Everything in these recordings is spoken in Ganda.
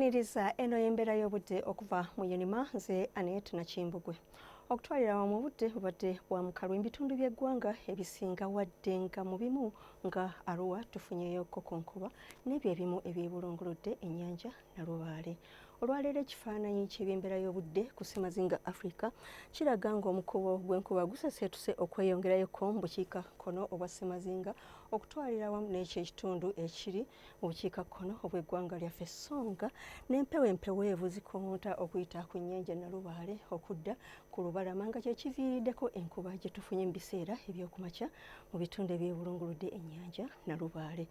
Niriza eno y'embeera y'obudde okuva mu Unima nze Annet Nakimbugwe. Okutwalira awamu obudde bubadde bwa mukalu ebitundu by'eggwanga ebisinga wadde nga mu bimu nga Arua tufunyeyo kokonkuba n'ebyo ebimu ebyebulunguludde ennyanja Nalubaale. Olwaleero ekifaananyi ky'ebyembeera y'obudde ku ssemazinga Afrika kiraga ng'omukubo gw'enkuba guseseetuse okweyongerayo ko mu bukiika kono obwa ssemazinga okutwalira awamu n'ekyo ekitundu ekiri obukiika kkono obw'eggwanga lyaffe songa n'empewo empeweevu zikonta okuyita ku nnyanja nalubaale okudda ku lubalama nga kyekiviiriddeko enkuba gye tufunye mu biseera ebyokumakya mu bitundu ebyebulunguludde ennyanja nalubaale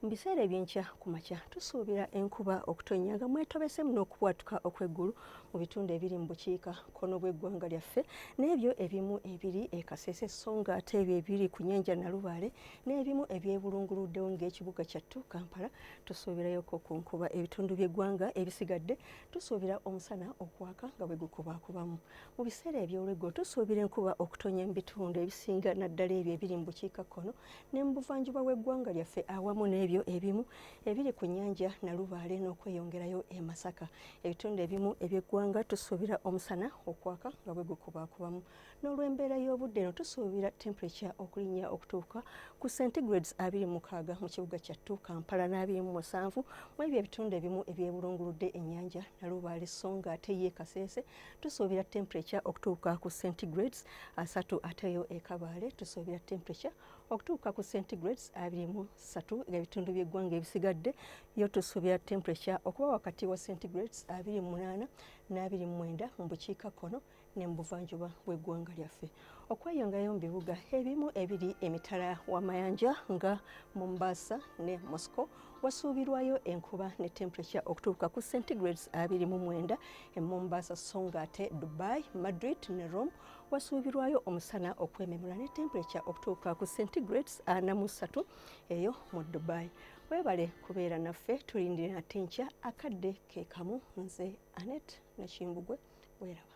mu biseera ebyenkya ku makya tusuubira enkuba okutonnya nga mwetobesemu n'okubwatuka okw'eggulu mu bitundu ebiri mu bukiika kkono bw'eggwanga lyaffe n'ebyo ebimu ebiri e kasese so nga ate ebyo ebiri ku nnyanja nalubaale n'ebimu ebyebulunguluddewo ng'ekibuga kyattu kampala tusuubirayoko ku nkuba ebitundu by'eggwanga ebisigadde tusuubira omusana okwaka nga bwe gukubaakubamu mu biseera eby'olweggulo tusuubira enkuba okutonya mu bitundu ebisinga naddala ebyo ebiri mu bukiikakkono ne mu buvanjuba bw'eggwanga lyaffe awamu n'ebyo ebimu ebiri ku nnyanja nalubaale n'okweyongerayo e masaka ebitundu ebimu eby'eggwanga tusuubira omusana okwaka nga bwe gukubaakubamu N'olw'embeera y'obudde eno tusuubira temperature okulinnya okutuuka ku centigrades abiri mukaaga mu kibuga kyattu Kampala n'abiri mu musanvu mu ebyo ebitundu ebimu ebyebulunguludde ennyanja Nalubaale sso nga ate ye Kasese tusuubira temperature okutuuka ku centigrades asatu ate yo e Kabaale tusuubira temperature okutuuka ku centigrades abiri mu ssatu ng'ebitundu by'eggwanga ebisigadde yo tusuubira temperature okuba wakati wa centigrades abiri mu munaana n'abiri mu mwenda mu bukiikakkono ne mu buvanjuba bw'eggwanga lyaffe okweyongayo mu bibuga ebimu ebiri emitala w'amayanja nga Mombasa ne Moscow wasuubirwayo enkuba ne temperature okutuuka ku centigrades abiri mu mwenda e Mombasa so ng'ate Dubai, Madrid ne Rome wasuubirwayo omusana okwememula ne temperature okutuuka ku centigrades ana mu ssatu eyo mu Dubai. webale kubeera naffe tulindire nate nkya akadde kekamu nze anet nakimbugwe weraba